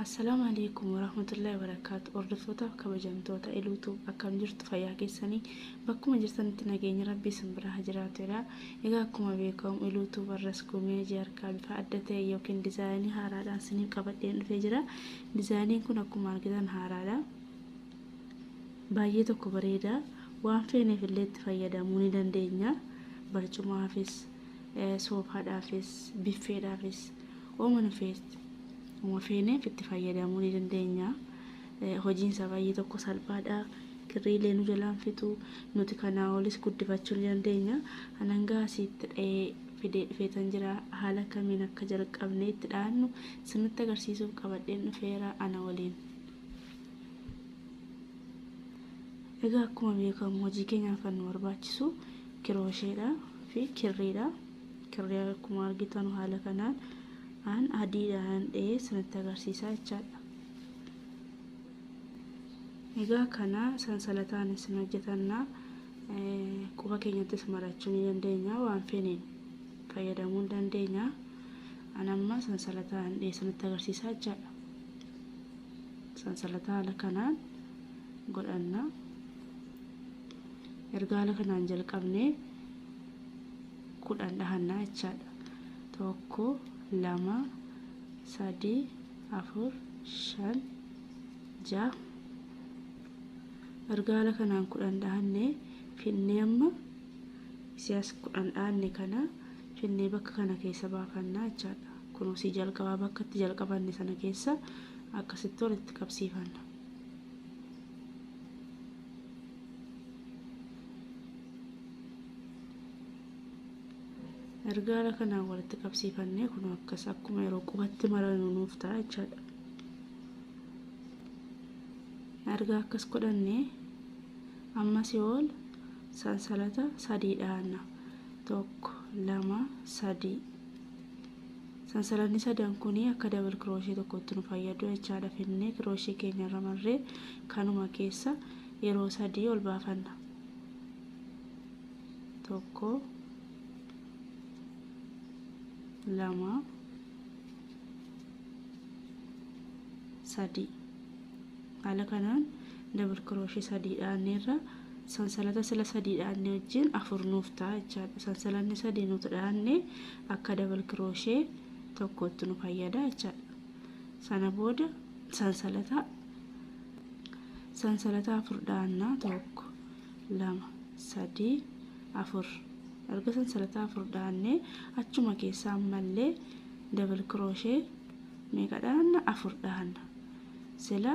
Assalaamu alaikum warahmatullahi wabarakatuh. Hordoftoota kabajamtoota iluutu akkam jirtu fayyaa keessanii bakkuma jirtanitti nageenya rabbii isin biraa haa jiraatu jedha. Egaa akkuma beekamu Iluu Tube har'as gumee hojii harkaa bifa adda ta'e yookiin dizaayinii haaraadhaan isiniif qabadheen dhufee jira. Dizaayiniin kun akkuma argitan haaraadha. Baay'ee tokko bareeda. Waan feeneef illee itti fayyadamuu ni dandeenya. Barcumaafis, soofaadhaafis, biffeedhaafis, ooma nufeetti. Uma feeneef itti fayyadamuu ni dandeenya. Hojiin isaa baay'ee tokko salphaadha. Kirrii illee nu jalaa hin fixu. Nuti kanaa olis guddifachuu ni dandeenya. An hanga asiitti dha'ee fidee dhufeetan jira. Haala akkamiin akka jalqabnee itti dha'annu sirnitti agarsiisuuf qabadheen dhufeera ana waliin. Egaa akkuma beekamu hojii keenyaaf kan nu barbaachisu kiroosheedha fi kirriidha. Kirrii akkuma argitanu haala kanaan an adiidhaan dha'ee sirnitti agarsiisaa jechaadha. Egaa kana sansalataanis hin hojjetanna quba keenyattis marachuu ni dandeenya waan feeneen fayyadamuu ni dandeenya an amma sansalataan dhiyeessanitti agarsiisaa jechaadha sansalataa haala kanaan godhanna erga haala kanaan jalqabne kudhan dhahannaa jechaadha tokko lama sadii afur shan ja'a argaala kanaan kudhan dhaanne finnee amma isiyaas kudhan dhaanne kana finnee bakka kana keessa baafannaa jechaadha kunuunsii jalqabaa bakka itti jalqabanne sana keessa akkasitti walitti qabsiifanna erga haala kanaan walitti qabsiifannee kun akkas akkuma yeroo qubatti maranu nuuf ta'a jechaadha erga akkas godhannee ammas yoo ol sansalata sadii dhaanna tokko lama sadii sansalanni sadan kun akka dabal kirooshee tokkotti nu fayyadu jechaadha finnee kirooshee keenya irra marree kanuma keessa yeroo sadii ol baafanna tokko lama sadii haala kanaan dabal kirooshii sadii dhaanneerra sansalata sila sadii dhaanne wajjin afur nuuf ta'a jechaadha sansalanni sadii nuti dhaanne akka dabal kirooshee tokkotti nu fayyada jechaadha sana booda sansalata sansalata afur dhaannaa tokko lama, sadii, afur. Erga sansalata afur dhaannee achuma keessa ammallee double crochet meeqa dhaanna? Afur dhaanna. Sila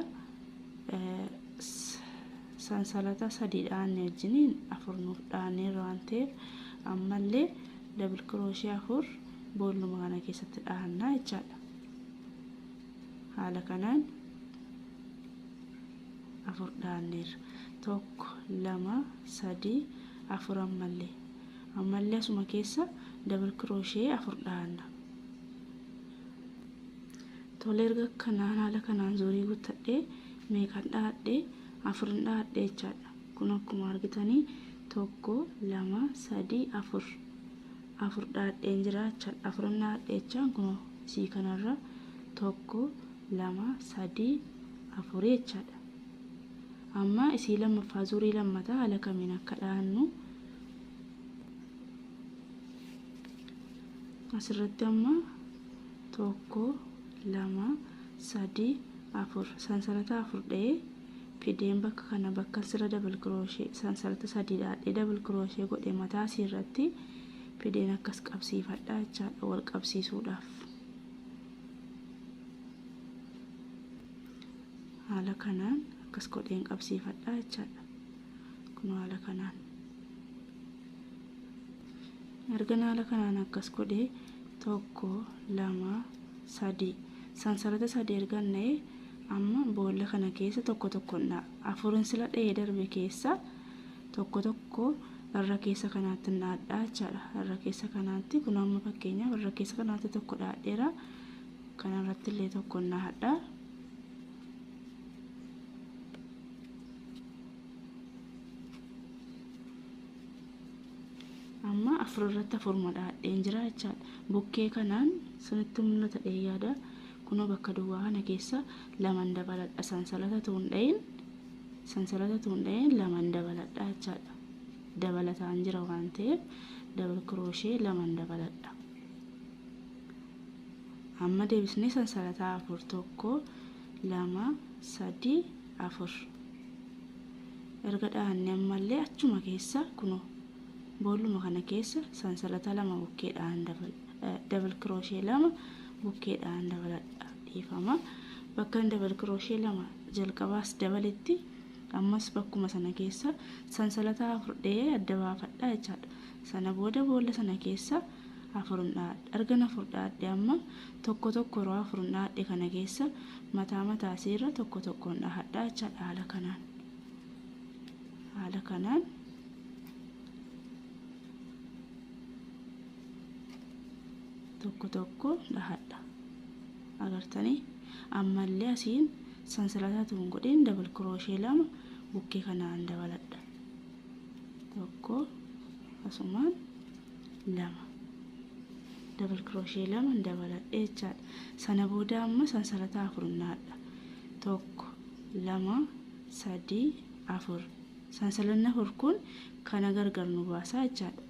sansalata sadii dhaanne wajjiniin afur nuuf dhaaneerra waan ta'eef ammallee double crochet afur boolluma kana keessatti dhaanna jechaadha. Haala kanaan 4 dhaanneerra. 1 2 3 4 ammallee ammallee asuma keessa double crochet 4 dhaanna. Tole erga kanaan haala kanaan zorii guuttadhee meeqan dhaadhee afurin dhaadhee jechaadha. Kun akkuma argitanii tokko lama sadii afur afur dhaadheen jira jechaadha. Afurin dhaadhee jechaan kun sii kanarra tokko lama sadii afurii jechaadha. Amma isii lammaffaa zurii lammata haala kamiin akka dhahannu asirratti amma tokko lama sadii afur sansalata afur dha'ee fideen bakka kana bakka sirra dabal kirooshee sansalata sadii dhaadhee dabal kirooshee godhe mataa asii irratti fideen akkas qabsiifadha jechaadha wal qabsiisuudhaaf. haala kanaan akkas godheen qabsiifadha jechaadha kun haala kanaan ergan haala kanaan akkas godhee tokko lama sadii sansalata sadii ergan na'ee amma boolla kana keessa tokko tokko na'a afurin sila dha'ee darbe keessa tokko tokko irra keessa kanaatti naadhaa jechaadha irra keessa kanaatti kun amma fakkeenyaaf irra keessa kanaatti tokko dhaadheera Kana irratti illee tokkoon nahadha. Amma afur irratti afuruma dhahadheen jira jechaadha. Bukkee kanaan sinitti mul'ata dhee yaada. Kunoo bakka duwwaa kana keessa laman dabaladha. Sansalata tuun dhahin sansalata tuun dhahin laman dabaladha jechaadha. Dabalataan jira waan ta'eef dabal kirooshee laman dabaladha. Amma deebisnee sansalataa afur tokko lama sadi afur erga dhahanne ammallee achuma keessa kunoo boolluma kana keessa sansalata lama bukkee dhahan dabal kirooshee lama bukkee dhahan dabaladha dhiifama bakkan dabal kirooshee lama jalqabaas dabaletti ammas bakkuma sana keessa sansalataa afur dhahee adda baafadha jechaadha sana booda boolla sana keessa afur hin dhahadhe. Ergan afur dhahadhe amma tokko tokko yeroo afurin dhahadhe kana keessa mataa mataa isii irra tokko tokkoon dhahadha jechaadha haala kanaan. Haala kanaan tokko tokko dhahadha. Agartanii ammallee asiin sansalataa tuun godheen dabal kirooshee lama bukkee kanaan dabaladha. Tokko asumaan lama double crochet lama dabaladhe jechaadha sana booda amma sansalata afur naadha tokko lama sadii afur sansalanni afur kun kana gargar nu baasaa jechaadha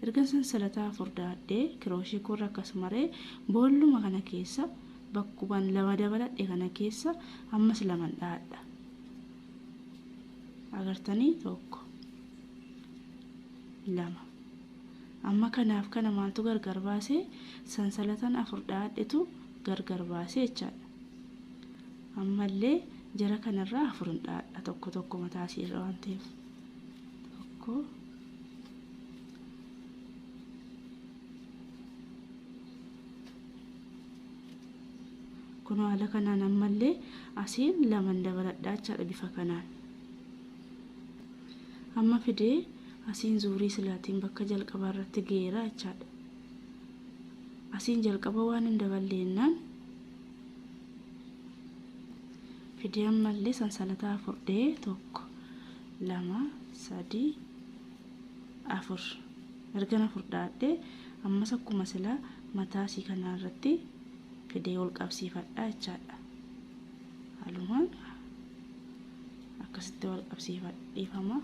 erga sansalata afur daadhee kirooshee koorra akkasumaree boolluma kana keessa bakkuban lama dabaladhe kana keessa ammas laman dhaadha agartanii tokko 2. Amma kanaaf kana maaltu gargar baase? Sansalatan afur dha'adhetu gargar baase jechaadha. Ammallee jara kanarraa afur hin dha'adha tokko tokko mataa isii irra waan ta'eef. Tokko. Kunoo haala kanaan ammallee asiin laman dabaladhaa jechaadha bifa kanaan. Amma fidee asiin zuurii silaatiin bakka jalqabaa irratti geera jechaadha. Asiin jalqaba waan hin daballe jennaan fidee ammallee sansalataa afur dhee tokko lama sadii afur ergan afur dhaadhee ammas akkuma silaa mataa asii kanaa irratti fidee ol qabsiifadha jechaadha. halumaan akkasitti wal qabsiifadhiifama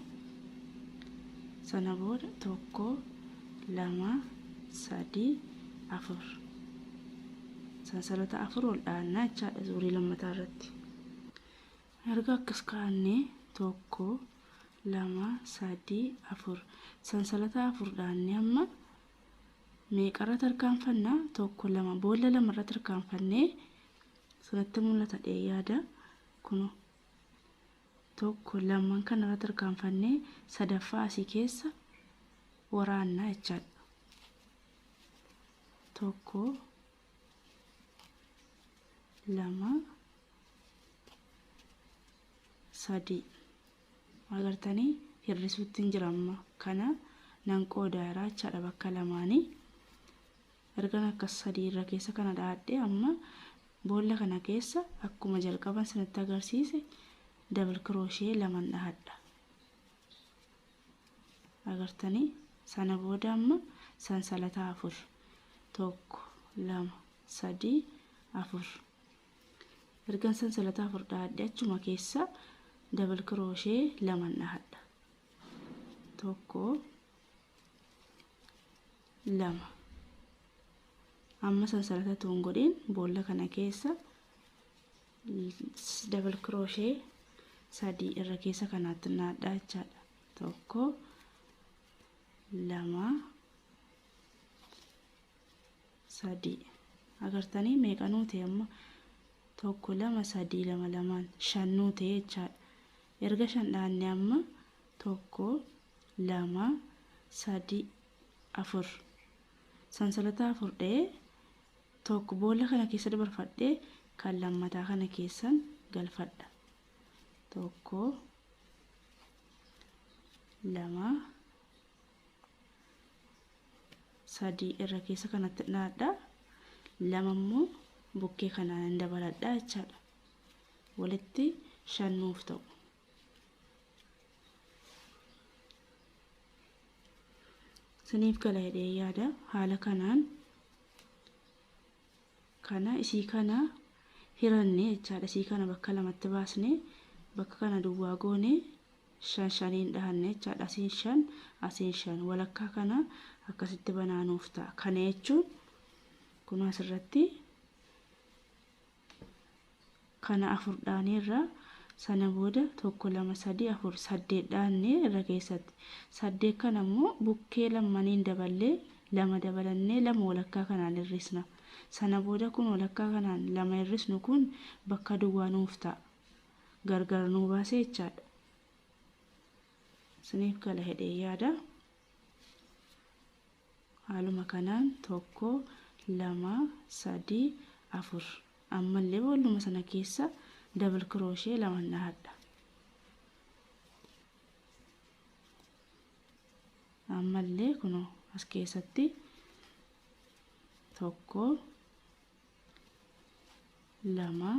sana booda tokko lama sadii afur sansalata afur wal dhaannaa jechaadha zuurii lammataa irratti erga akkas kaanne tokko lama sadii afur sansalata afur dhaanne amma meeqarra tarkaanfannaa tokko lama boolla lamarra tarkaanfannee Sirratti mul'ata jedhee yaada. Kunoo. Tokko lamman kana irratti tarkaanfannee sadaffaa asii keessa waraannaa jechaadha. Tokko lama sadii agartanii hir'isuutti hin jira amma kana nan qoodaa irraa jechaadha bakka lamaanii Ergan akkas sadii irra keessa kana dha'adhee amma boolla kana keessa akkuma jalqaban sinitti agarsiise double crochet laman dhahadha. Agartanii sana booda amma sansalata afur tokko lama sadii afur ergan sansalata afur dhahadhee achuma keessa double crochet laman dhahadha. Tokko lama amma sansalata tuun godhin boolla kana keessa dabal kirooshee sadii irra keessa kanaatti naadhaa jechaadha tokko lama sadii agartanii meeqa nuute amma tokko lama sadii lama lamaan shan nuute jechaadha Erga shan dhaanne amma tokko lama sadi afur sansalata afur dha'ee tokko boolla kana keessa dabarfadhee kan lammataa kana keessan galfadha tokko lama sadii irra keessa kanatti dhaadha lama immoo bukkee kanaan dabaladha jechaadha. walitti shan nuuf ta'u. Isiniif gala jedhee yaada haala kanaan kana isii kana hiranne jechaadha isii kana bakka lamatti baasne bakka kana duwwaa goone shan shaniin dhahanne jechaadha asiin shan asiin shan walakkaa kana akkasitti banaa nuuf ta'a kana jechuun kun asirratti Kana afur dhaaneerra. Sana booda tokko lama sadii afur saddeet dhaanne irra keessatti. Saddeet kana immoo bukkee lammaniin daballee lama dabalannee lama walakkaa kanaan hir'isna. Sana booda kun walakkaa kanaan lama hir'isnu kun bakka duwwaa nuuf ta'a. Gargar nuu baasee jechaadha. Isiniif gala jedhee yaada. Haaluma kanaan tokko, lama, sadii, afur. Ammallee boolluma sana keessa double crochet lama dhahadha. Ammallee kunoo as keessatti tokko, lama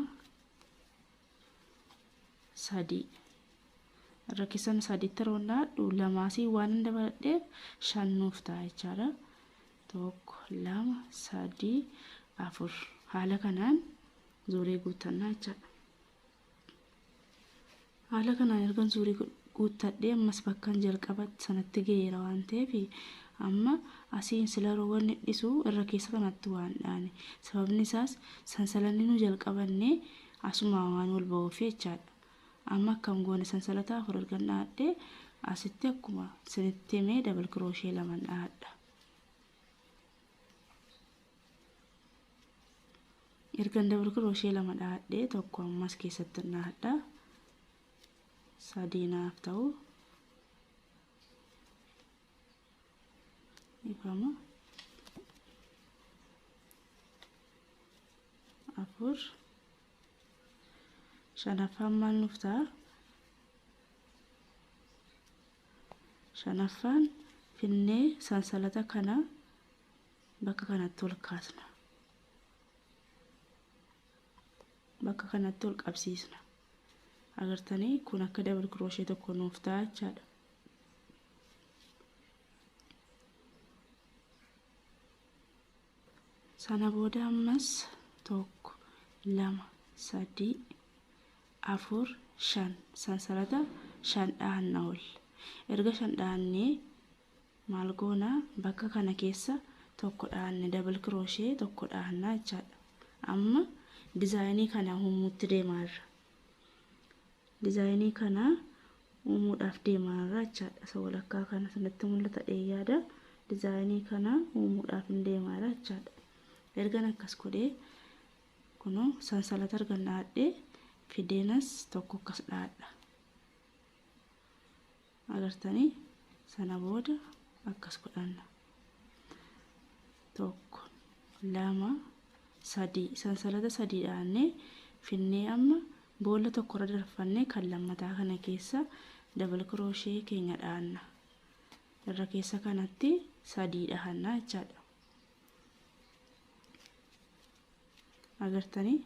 sadii irra keessan sadiitti yeroo laadhu lamaasii waan hin dabaladheef shan nuuf ta'a jechaadha. Tokko lama sadii afur haala kanaan zuuree guuttannaa jechaadha. Haala kanaan ergan zuurii guuttadhee ammas bakkan jalqaba sanatti ga'eera waan ta'eef amma asiin sila yeroo wanni dhisu irra keessa kanatti waan dhaane sababni isaas sansalanni nu jalqabanne asuma waan wal ba'uuf jechaadha. Amma akkam goone sansalata afur ergan dhaadhee asitti akkuma sinitti himee dabal kirooshee laman dhaadha. ergan dabal kirooshee lama dhahadhee tokko ammas keessatti dhahadha sadii naaf ta'u ifama afur shanaffaan maal nuuf ta'a Shanaffaan, finnee sansalata kana bakka kanatti ol kaasna. Bakka kanatti ol qabsiisna. Agartanii kun akka dabal kirooshee tokko nuuf ta'a jechaadha. Sana booda ammas tokko, lama, sadii, afur, shan sansalata shan dhahanna ol. Erga shan dhahannee maal goona bakka kana keessa tokko dhahanne double crochet tokko dhahanna jechaadha. Amma dizaayinii kana uumuutti deemaa irra. Dizaayinii kana uumuudhaaf deemaa irra jechaadha. Isa walakkaa kana sanatti mul'ata dheeyyaada. Dizaayinii kana uumuudhaaf hin deemaa irra jechaadha. Ergan akkas godhee Kunoo sansalata argan dhahadhee fideenas tokko akkas dhahadha. Agartanii sana booda akkas godhanna. Tokko, lama, sadii. Sansalata sadii dhahannee finnee amma boolla tokkorra darfannee kan lammataa kana keessa dabal kirooshee keenya dhahanna. Irra keessa kanatti sadii dhahanna jechaadha. agartanii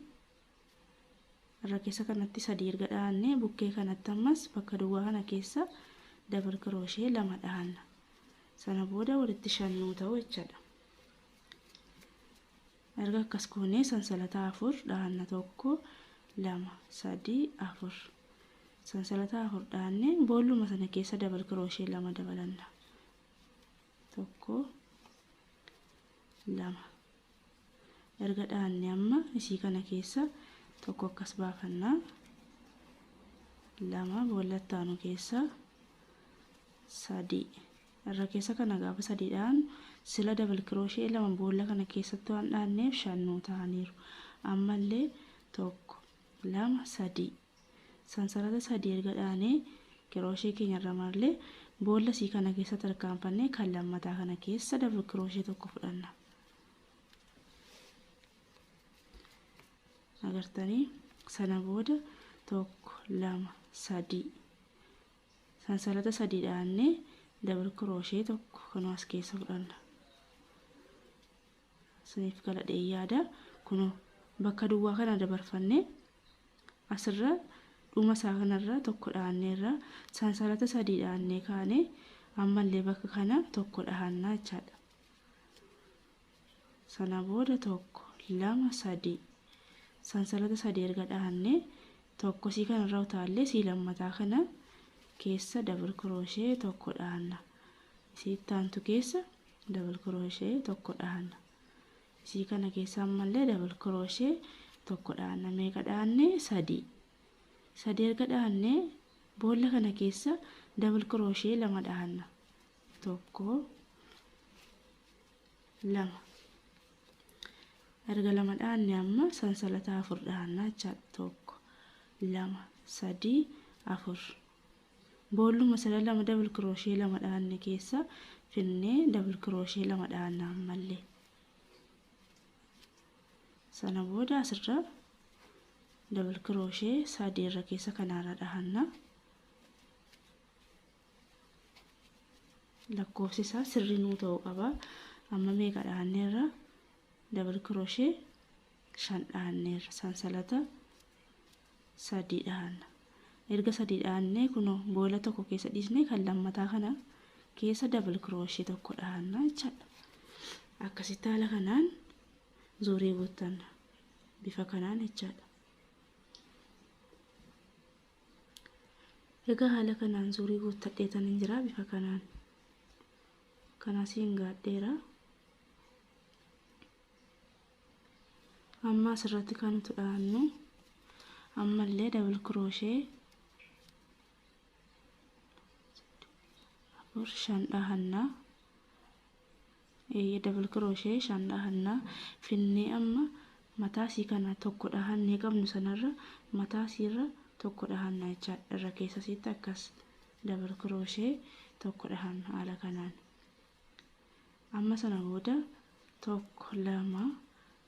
irra keessa kanatti sadii erga dhahanne bukkee kanatti ammas bakka duwwaa kana keessa dabal kirooshee lama dhahanna sana booda walitti shan nuu ta'u jechaadha erga akkas goonee sansalata afur dhahanna tokko lama sadii afur sansalata afur dhahanne boolluma sana keessa dabal kirooshee lama dabalanna tokko lama erga dhaanne amma isii kana keessa tokko akkas baafanna lama boolla ittaanu keessa sadii irra keessa kana gaafa sadii dhaanu sila dabal kirooshee lama boolla kana keessatti waan dhaanneef shan nuu ta'aniiru ammallee tokko lama sadii Sansarata sadii erga dhaanee kirooshee keenya irra marree boolla isii kana keessa tarkaanfannee kan lammataa kana keessa dabal kirooshee tokko fudhanna. Agartanii sana booda tokko lama sadii sansalata sadii dhaannee dabal kirooshee tokko kanuma as keessa fudhanna. isiniif galadhee yaada kuno bakka duwwaa kana dabarfanne asirra dhuma isaa kanarra tokko dhaanneerra sansalata sadii dhaannee kaane ammallee bakka kana tokko dhaannaa jechaadha sana booda tokko lama sadii sansalata sadii erga dhaannee tokko sii kanarra utaallee sii lammataa kana keessa dabal kirooshee tokko dhaanna isii ittaantu keessa double crochet tokko dhaanna isii kana keessa ammallee double crochet tokko dhaanna meeqa dhaanne sadii sadii erga dhaanne boolla kana keessa double crochet lama dhaanna tokko lama erga lama dhaanne amma sansalata afur dhaanna jechaadha tokko lama sadii afur Boolluma sana lama double crochet lama dhaanne keessa finnee double crochet lama dhaanna ammalle sana booda asirra double crochet sadii irra keessa kanaarra dhahanna lakkoofsi isaa sirrii nuu ta'uu qaba amma meeqa dhaanneerra double crochet shan dhaanneerra sansalata sadii dhaanna erga sadii dhaannee kuno boola tokko keessa dhiisnee kan lammataa kana keessa dabal kirooshee tokko dhaanna jechaadha akkasitti haala kanaan zuurii guuttanna bifa kanaan jechaadha egaa haala kanaan zuurii guuttadheetan hin jira bifa kanaan kanasiin gaadheera amma asirratti kan nuti dhaannu ammallee dabal kirooshee afur shan dhahanna eeyyee dabal kirooshee shan dhahanna finnee amma mataa isii kana tokko dhahannee qabnu sanarra mataa isiirra tokko dhahanna jecha irra keessa isiitti akkas dabal kirooshee tokko dhahanna haala kanaan Amma sana booda 1 2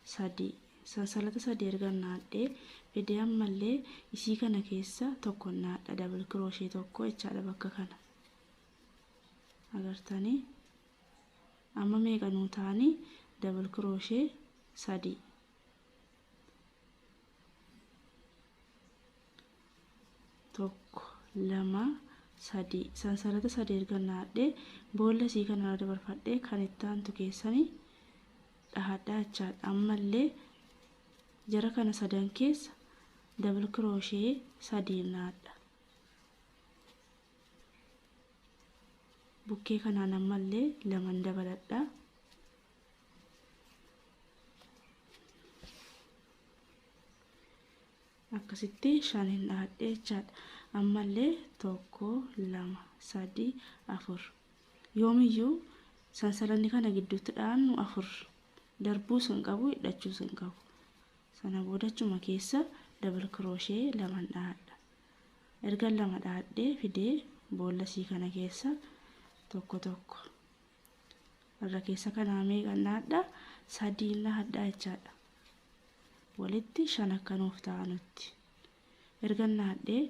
3 sansalata sadii ergan naadhee fidee ammallee isii kana keessa tokkon naadha double crochet tokko jechaadha bakka kana agartanii amma meeqa nuu taanii double crochet sadii tokko lama sadii sansarata sadii erga naadhee boolla isii kanarra dabarfadhee kan itti aantu keessani dhahadhaa jechaadha ammallee jara kana sadan keessa dabal kirooshee sadii naadha bukkee kanaan ammallee laman dabaladha akkasitti shan hin dhaadhee jechaadha ammallee tokko lama sadii afur yoomiyyuu sansalanni kana gidduutti dhaannu afur darbuus hin qabu hidhachuus hin qabu sana boodachuma keessa dabal kirooshee laman dhaadha erga lama dhaadhee fidee boolla sii kana keessa tokko tokko irra keessa kanaa meeqa naadha sadii na hadhaa jechaadha walitti shan akka nuuf ta'a nutti erga naadhee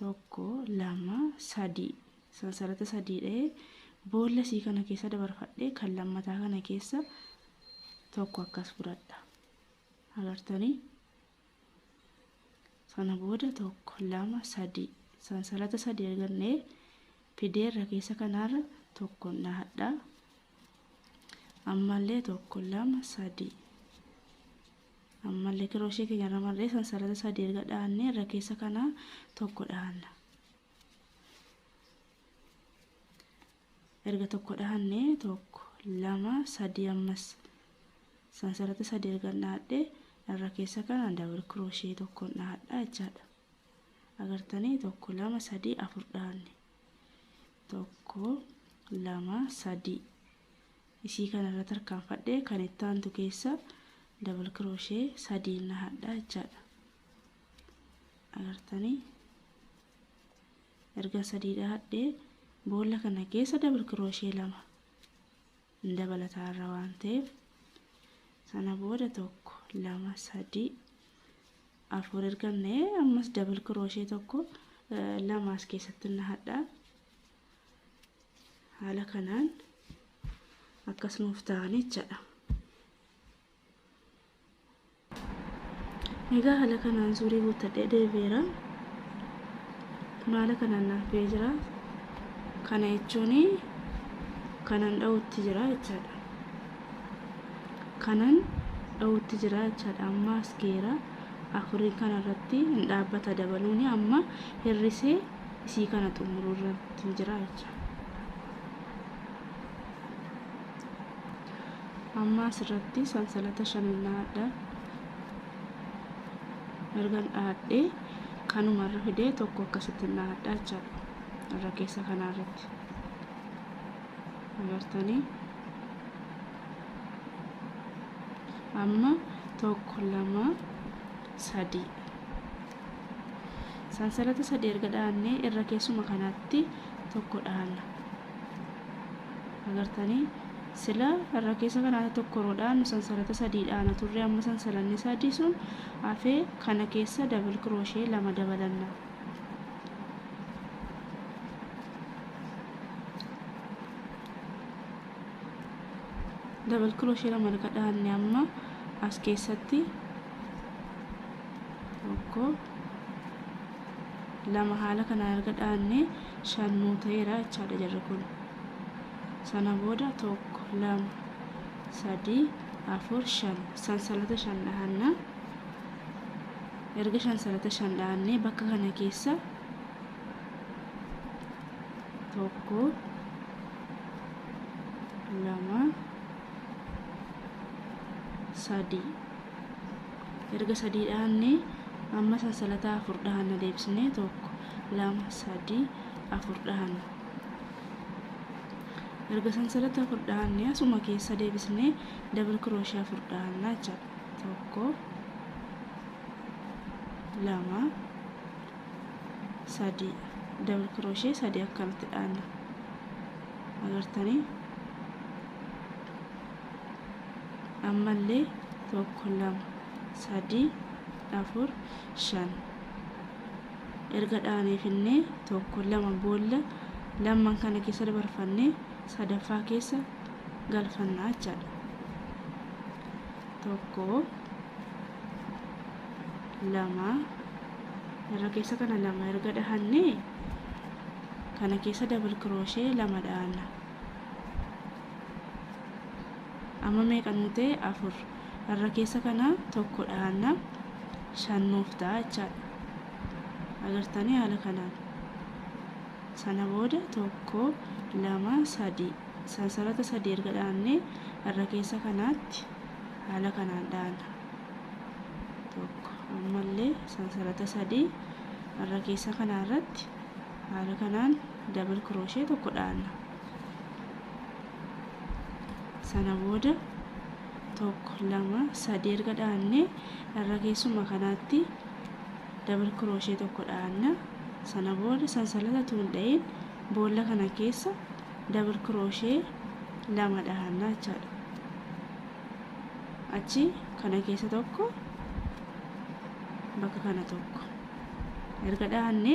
tokko lama sadii sansalata sadii dha'ee boolla sii kana keessa dabarfadhee kan lammataa kana keessa tokko akkas fudhadha agartanii sana booda tokko lama sadii sansalata sadii argannee fideerra keessa kanaarra tokko nahadha ammallee tokko lama sadii ammallee kirooshee keenya irra marree sansalata sadii erga dhaannee irra keessa kanaa tokko dhaanna erga tokko dhahanne tokko lama sadii ammas sansarata sadii ergan dhahadhe irra keessa kana dabal kirooshee tokkoon dhahadha jechaadha agartanii tokko lama sadii afur dhahanne tokko lama sadii isii kana irra tarkaanfadhe kan itti aantu keessa dabal kirooshee sadiin dhahadha jechaadha agartanii Erga sadii dhahadhee boolla kana keessa double crochet lama hin dabalataa irra waan ta'eef sana booda tokko lama sadii afur erga na'ee ammas double crochet tokko lama as keessatti nahadha haala kanaan akkas nuuf ta'an jechaadha. Egaa haala kanaan zuurii guuttadhee deebi'eera. Kun haala kanaan naaf ba'ee jira. Kana jechuun kanan dha'utti jira jechaadha. Kanan dha'utti jira jechaadha. Amma as geera. Afurii kana irratti hin dhaabbata dabaluun amma hir'isee isii kana xumuruu irratti jira jechaadha. amma asirratti sansalata shanan dhahadha ergan dhahadhe kanuma irra fidee tokko akkasitti dhahadha jechaadha irra keessa kanaa irratti agartanii amma tokko lama sadii sansalata sadii erga dhahannee irra keessuma kanatti tokko dhahanna agartanii sila irra keessa kana tokko roodhaan sansalata sadii dhaana turre amma sansalanni sadii sun hafee kana keessa dabil kirooshee lama dabalanna dabil kirooshee lama erga dhaanne amma as keessatti tokko lama haala kanaan erga dhaanne shan nuu ta'eera jechaadha jarri kun sana booda tokko lama sadii afur shan sansalata shan dhahanna erga sansalata shan dhahanne bakka kana keessa tokko lama sadii erga sadii dhaanne amma sansalataa afur dhahanna deebisne tokko lama sadii afur dhahanna erga sansalata afur dhahanne asuma keessa deebisne dabal kirooshii afur dhahanna jecha tokko lama sadii dabal kirooshii sadii akkanatti dhahanna agartanii ammallee tokko lama sadii afur shan erga dhaanee finnee tokko lama boolla lamman kana keessa dabarfannee sadaffaa keessa galfannaa jechaadha tokko lama irra keessa kana lama erga dhahannee kana keessa dabal kirooshee lama dhaanna amma meeqa nuu ta'e afur irra keessa kana tokko dhahanna shan nuuf ta'a jechaadha agartanii haala kanaan sana booda tokko lama sadii sansarata sadii erga dhahannee irra keessa kanaatti haala kanaan dhahanna tokko ammallee sansarata sadii irra keessa kanaa irratti haala kanaan dabal kiroshee tokko dhahanna sana booda tokko lama sadii erga dhaanne irra keessuma kanaatti dabal kirooshee tokko dhaanna sana booda sansalata tuun dha'iin boolla kana keessa dabal kirooshee lama dhaanna jechaadha achi kana keessa tokko bakka kana tokko erga dhaanne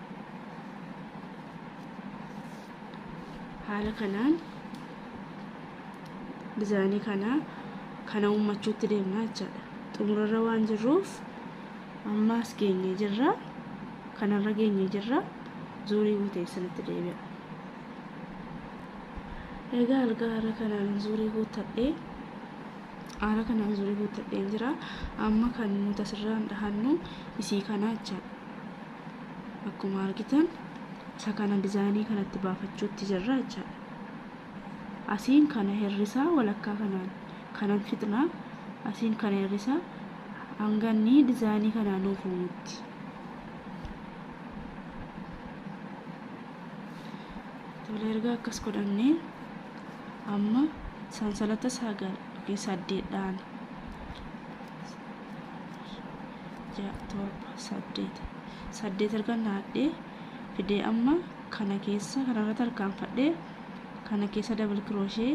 haala kanaan dizaayinii kana kana uummachuutti deemnaa jechaadha xumurarra waan jirruuf amma as geenyee jirra kanarra geenyee jirra zuurii guutee isinitti deebi'a egaa algaa haala kanaan zuurii guuttadhee haala kanaan zuurii guuttadheen jira amma kan nuti asirraan dhahannu isii kanaa jechaadha akkuma argitan isa kana dizaayinii kanatti baafachuutti jirra jechaadha asiin kana hirrisaa walakkaa kanaan kanan fixna asiin kana hirrisaa hanganni dizaayinii kanaa nuuf uumutti tola erga akkas godhannee amma sansalata sagal yookiin saddeet dhaana 6 7 8 8 ergan naadhee fidee amma kana keessa kanarra tarkaanfadhee kana keessa dabal kirooshee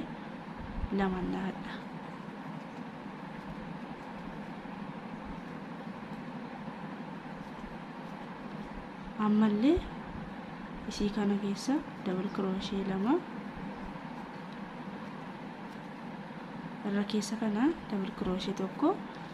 lama naadha ammallee isii kana keessa dabal kirooshee lama irra keessa kana dabal kirooshee tokko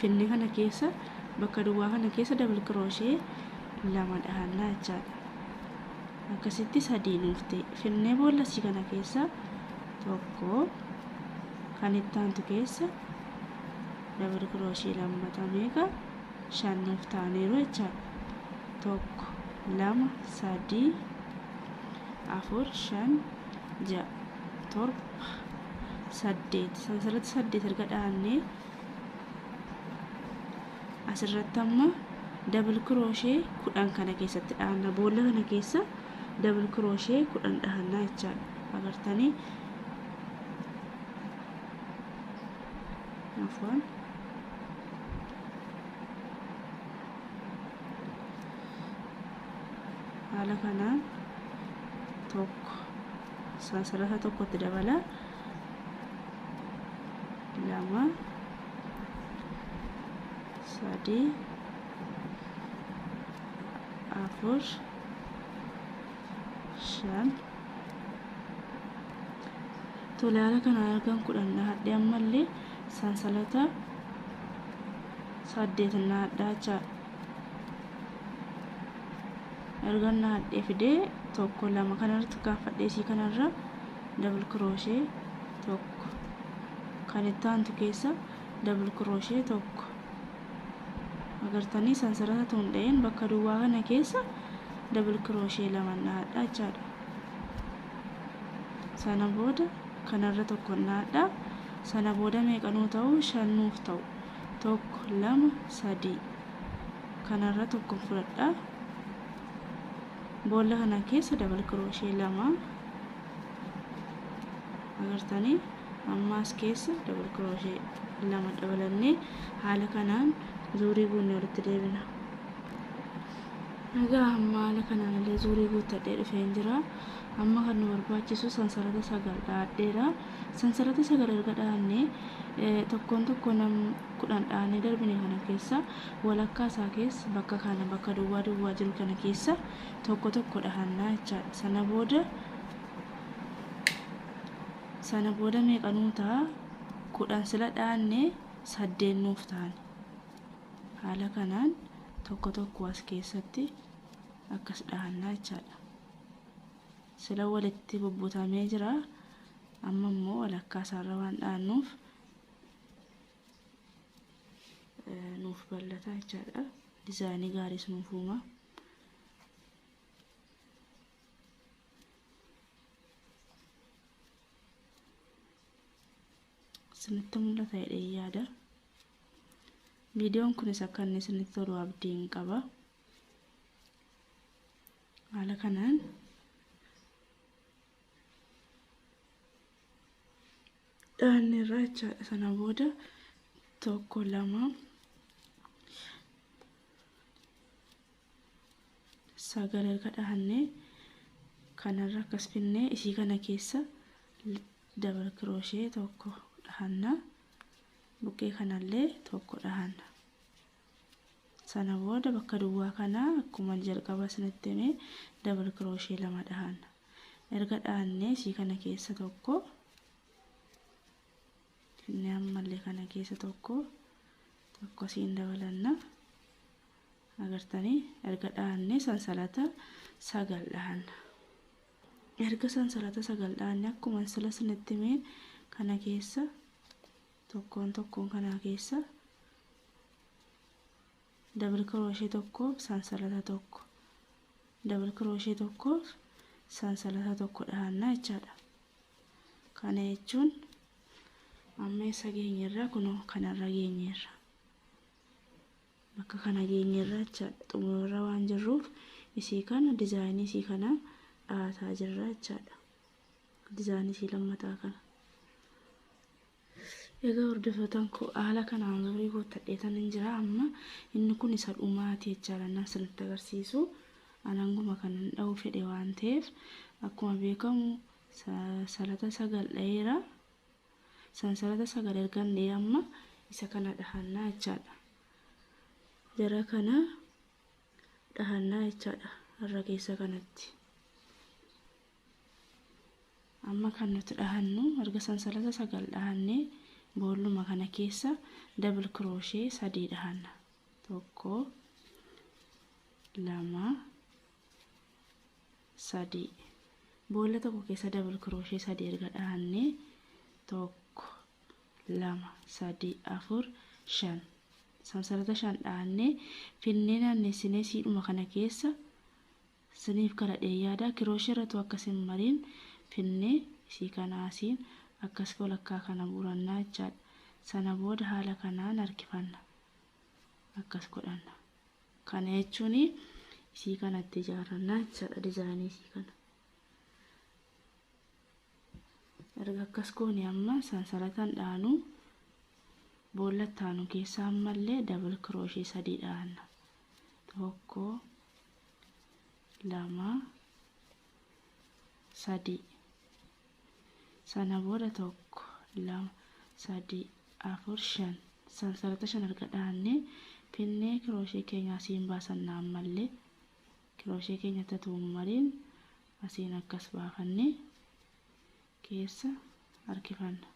finne kana keessa bakka duwwaa kana keessa dabal kirooshee lama dhahannaa jechaadha akkasitti sadii nuuf ta'e finnee boolla sii kana keessa tokko kan itti aantu keessa dabal kirooshee lammata meeqa shan nuuf ta'aniiru jechaadha tokko lama sadii afur shan ja'a torba saddeet asirratti saddeet erga dhaannee asirratti amma dabal kirooshee kudhan kana keessatti dhaanna boolla kana keessa dabal kirooshee kudhan dhaannaa jechaadha agartanii afwan haala kanaan tokko isaa asirraa tokkotti dabala lama sadii afur shan tolaala kana argan kudhan dhahadhe ammallee sansalata saddeet dhahadhaa jechaadha ergan nahadhee fidee tokko lama kanarratti kaaffadhee isii kanarra dabal kirooshe tokko kan itti aantu keessa dabal kirooshe tokko agartanii sansarata tuundha'een bakka duwwaa kana keessa dabal kirooshe lama nahadha jechaadha sana booda kanarra tokko nahadha sana booda meeqanuu ta'u shan nuuf ta'u 1 2 3 kanarra tokkon fudhadha boolla kana keessa dabal kirooshee lama agartanii ammaas keessa dabal kirooshee lama dabalannee haala kanaan zuurii guunne walitti deebina egaa amma haala kanaan illee zuurii guuttadhee dhufeen jira amma kan nu barbaachisu sansalata sagal dhaadheera Sansarata sagal erga dhaabnee, tokkoon tokkoo nam 10 dhaanee darbine kana keessaa walakkaa isaa keessa bakka kana bakka duwwaa duwwaa jiru kana keessa tokko tokko dhahannaa jechaadha. Sana booda sana booda meeqa nuu ta'a? kudhan sila dhaanne saddeet nuuf ta'an. Haala kanaan tokko tokko as keessatti akkas dhahannaa jechaadha. Sila walitti bubbutamee jira. Amma immoo walakkaa isaarra waan dhaannuuf nuuf bal'ata jechaadha. Dizaayinii gaariis nuuf uuma. Isinitti mul'ata jedhee yaada. Viidiyoon kunis akka inni isinitti tolu abdiin qaba. Haala kanaan dhaanne irraa jechaadha. Sana booda tokko lama sagal erga dhaanne kanarra akkas finne isii kana keessa dabal kirooshee tokko dhahanna buqqee kanallee tokko dhahanna. Sana booda bakka duwwaa kana akkuma jalqaba isinitti hime double crochet lama dhahanna. Erga dhahannee isii kana keessa tokko inni ammallee kana keessa tokko tokko isiin dabalanna. Agartanii erga dhahannee sansalata sagal dhahanna. Erga sansalata sagal dhahanne akkuma sila isinitti hime kana keessa tokkoon tokkoon kanaa keessa dabal kirooshee tokkoof sansalata tokko dabal kirooshee tokkoof sansalata tokko dhahannaa jechaadha kana jechuun amma eessa geenyerra kunoo kanarra geenyerra bakka kana geenyerra jechaadha xumurarra waan jirruuf isii kana dizaayinii isii kana dhaataa jirra jechaadha dizaayinii isii lammataa kana Egaa hordofootan koo haala kanaan umurii guuttadheetan hin jira amma inni kun isa dhumaati jechaadha nan isinitti agarsiisu an hanguma kanan dha'uu fedhe waan ta'eef akkuma beekamu salata sagal dha'eera sansalata sagal ergan dha'ee amma isa kana dhahannaa jechaadha jara kana dhahannaa jechaadha harra keessa kanatti Amma kan nuti dhahannu erga sansalata sagal dhahannee boolluma kana keessa double crochet sadii dhahanna tokko lama sadii boolla tokko keessa double crochet sadii erga dhahannee tokko lama sadii afur shan sansalata shan dhahannee finnee naannessinee siidhuma kana keessa Siniif kadhadhee yaadaa kirooshirratu akka sin mariin finnee isii kana asiin akkas folakkaa kana guurannaa jechaadha sana booda haala kanaan harkifanna akkas godhanna kana jechuun isii kana itti ijaarrannaa jechaadha dizaayinii isii kana erga akkas goone amma sansalatan dhaanu boolla taanu keessaa ammallee dabal kirooshii sadii dhaanna tokko lama sadii sana booda tokko lama sadii afur shan sansalata shan erga dhaannee pinnee kirooshee keenya asiin baasanna ammallee kirooshee keenya tatuumu mariin asiin akkas baafannee keessa harkifanna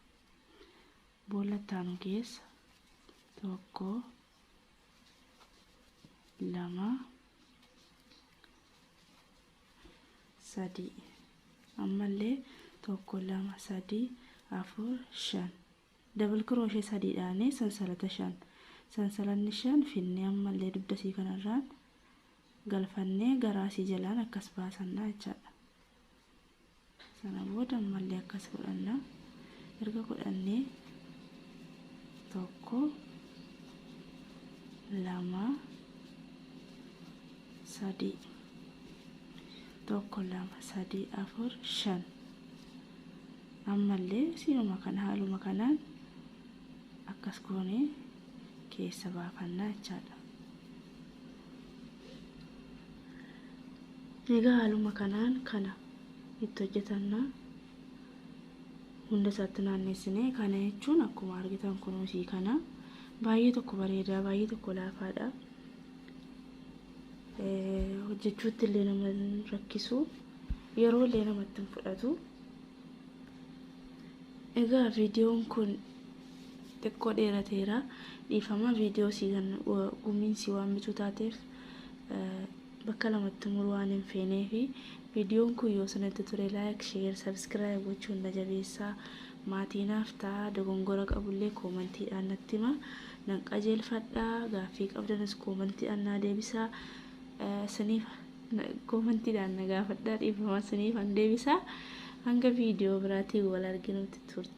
boolla ittaanu keessa tokko lama sadii ammallee tokko lama sadii afur shan dabal kirooshe sadiidhaanii sansalata shan sansalanni shan finnee ammallee dugdasii kanarraan galfannee garaasii jalaan akkas baasannaa jechaadha Sana booda ammallee akkas godhanna. Erga godhannee tokko lama sadii tokko lama sadii afur shan ammallee siinuma kana haaluma kanaan akkas goonee keessa baafannaa jechaadha. Egaa haaluma kanaan kana itti hojjetanna hunda isaatti naanneessine kana jechuun akkuma argitan kunuusii kana baay'ee tokko bareedaa baay'ee tokko laafaadha hojjechuutti illee nama rakkisu yeroo illee namatti hin fudhatu egaa viidiyoon kun Xiqqoo dheerateera dhiifama video sii kan gumiin sii waammituu taateef bakka lamatti muruu waan hin feeneefi videon kun yoo sanatti ture like share subscribe gochuun na jabeessaa maatii naaf ta'a dogongora qabullee koomantiidhaan natti hima nan qajeelfadha gaaffii qabdanis koomantiidhaan naa deebisaa siniif koomantiidhaan na gaafadhaa dhiifama siniif an deebisaa hanga video biraatiin wal arginutti turte